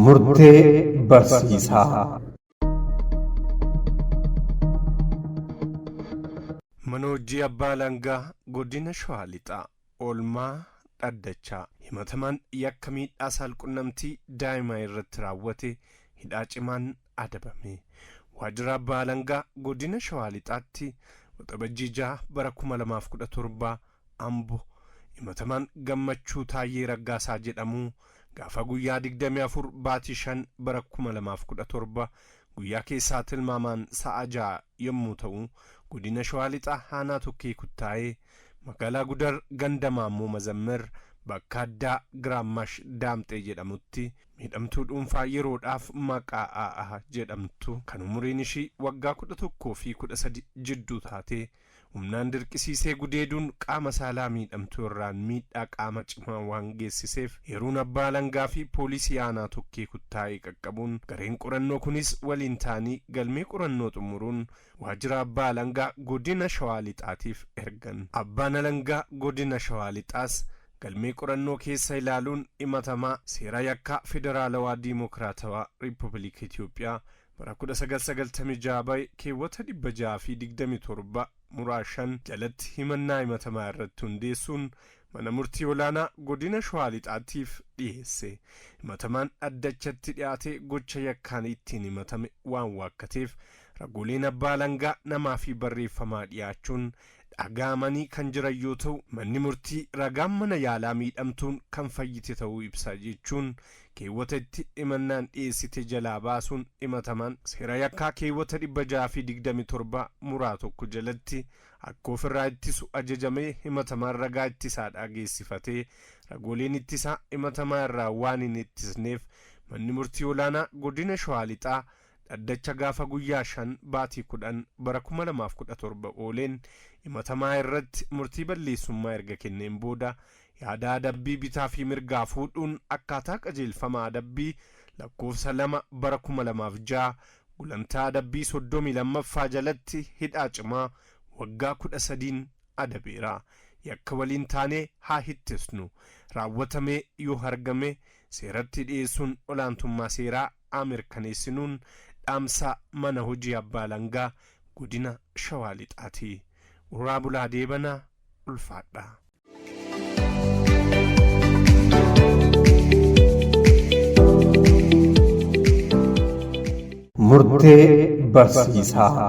Murtee barsiisaa. Mana hojii abbaa alangaa godina shawaa lixaa. Oolmaa dhaddachaa. Himatamaan yakka miidhaa saalqunnamtii daa'imaa irratti raawwate hidhaa cimaan adabame. Waajjira Abbaa Alangaa Godina Shawaa Lixaatti Waxabajjii 6 bara 2017 Ambo Himatamaan Gammachuu Taayyee Raggaasaa jedhamu gaafa guyyaa 24 baatii 5 bara 2017 guyyaa keessaa tilmaamaan sa'a 6:00 yommuu ta'u Godina Shawaa Lixaa Aanaa Tokkee Kuttaayee Magaalaa Gudar ganda Maammoo Mazammir bakka addaa Giraammash Daamxee jedhamutti miidhamtuu dhuunfaa yeroodhaaf maqaa Aah jedhamtu kan umuriin ishii waggaa 11 fi 13 jidduu taate humnaan dirqisiisee gudeeduun qaama saalaa miidhamtuu irraan miidhaa qaama cimaa waan geessiseef eeruun abbaa alangaa fi poolisii aanaa Tokkee Kuttaayee qaqqabuun gareen qorannoo kunis waliin ta'anii galmee qorannoo xumuruun Waajjira Abbaa Alangaa Godina Shawaa Lixaatiif ergan. Abbaan Alangaa Godina Shawaa Lixaas galmee qorannoo keessa ilaaluun himatamaa seera yakkaa Federaalawaa Diimookiraatawaa Riippuubilika Itoophiyaa bara 1996 bahe keewwata 627 muraa 5 jalatti himannaa himatamaa irratti hundeessuun Mana Murtii Olaanaa Godina Shawaa Lixaatiif dhiyeesse. Himatamaan dhaddachatti dhiyaatee gocha yakkaan ittiin himatame waan waakkateef Ragooleen abbaa alangaa namaa fi barreeffamaa dhiyaachuun dhaga'amanii kan jiran yoo ta'u, manni murtii ragaan mana yaalaa miidhamtuun kan fayyite ta'uu ibsa jechuun keewwata itti himannaan dhiyeessite jalaa baasuun himatamaan seera yakkaa keewwata 627 muraa 1 jalatti akka of irraa ittisu ajajamee himatamaan ragaa ittisaa dhaageessifatee ragooleen ittisaa himatamaa irraa waan hin ittisneef manni murtii olaanaa godina Shawaa Lixaa Dhaddacha gaafa guyyaa 5 baatii 10 bara 2017 ooleen himatamaa irratti murtii balleessummaa erga kenneen booda yaada adabbii bitaa fi mirgaa fuudhuun akkaataa qajeelfama adabbii lakkoofsa 2 bara 2006 gulantaa adabbii 32ffaa jalatti hidhaa cimaa waggaa 13'n adabeera. Yakka waliin taanee haa hittesnu. Raawwatamee yoo hargame seeratti dhiyeessuun olaantummaa seeraa haa mirkaneessinuun dhaamsa Mana Hojii Abbaa Alangaa Godina Shawaa Lixaati. Horaa bulaa deebana ulfaadhaa. Murtee barsiisaa.